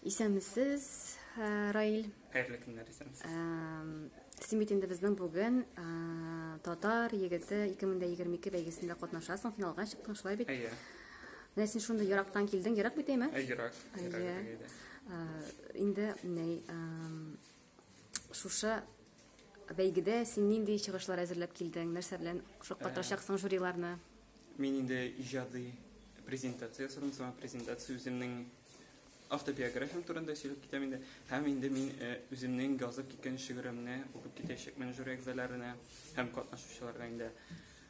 Исәнмесез, э, Раил. Хәерле көннәр, исәнмесез. Син бит инде безнең бүген э, татар егете 2022 бәйгесендә катнашасың, финалга чыктың, шулай бит? Әйе. Менә син шундый ерактан килдең, ерак бит әйме? Әйе, ерак. Әйе. Э, инде, ней, Шушы бәйгедә син нинди чыгышлар әзерләп килдең? Нәрсә белән шаккатырачаксың э, жюриларны? Мин инде иҗади презентация ясадым, сама презентация үземнең автобиографиям турында сөйләп китәм инде. Һәм инде мин э, үземнең язып киткән шигыремне укып китәчәкмен жюри әгъзаларына һәм катнашучыларга инде.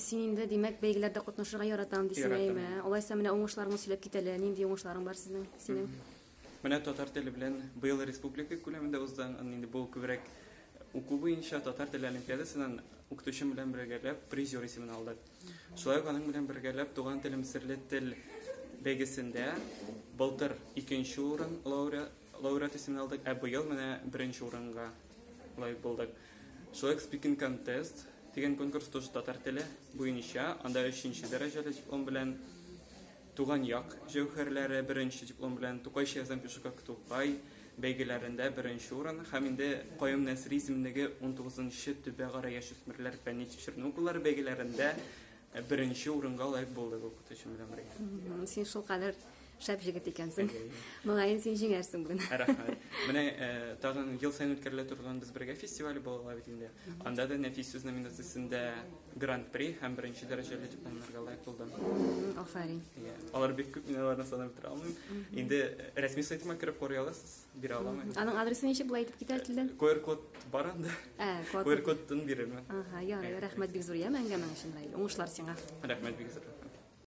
Син инде, димәк, бәйгеләрдә катнашырга яратам дисең, әйме? Алайса менә уңышларыңны сөйләп кит әле. Нинди уңышларың бар сезнең, синең? Менә татар теле белән быел республика күләмендә узды. Инде бу күбрәк уку буенча татар теле олимпиадасыннан укытучым белән бергәләп призер исемен алдык. Шулай ук аның белән бергәләп туган телем серле тел бәйгесендә былтыр икенче урын лауреат исемен алдык, ә быел менә беренче урынга лайык булдык. Человек Speaking Contest дигән конкурс тоже татар теле буенча, анда 3нче дәрәҗәле диплом белән Туган як җәүһәрләре беренче диплом белән Тукай Шәйхзам Пешукак Тукай бәйгеләрендә беренче урын һәм инде Каюм Нәсри исемендәге 19нчы төбәгара яшүсмерләр фәнни тикшеренү укулары бәйгеләрендә Ә беренче урынга лайк булды бу кутучым белән бергә. Син шул кадәр шәп җегет икәнсең. Моңаен син җиңәрсең бүген. Рәхмәт. Менә э, тагын ел саен үткәрелә торган без бергә фестивале була бит инде. Анда да нәфис сүз номинациясендә гран-при һәм беренче дәрәҗәле дипломнарга лайк булдым. Афәрин. Алар бик күп мин аларны санап бетерә алмыйм. Инде э, рәсми сайтыма кереп карый аласыз. бирә аламы? Аның адресы ничек була әйтеп китә телдән? QR код бар анда. Ә, QR кодтан бирермен. Ага, ярый, рәхмәт бик зур яме әңгәмәң өчен, Раил. Уңышлар сиңа. Рәхмәт бик зур.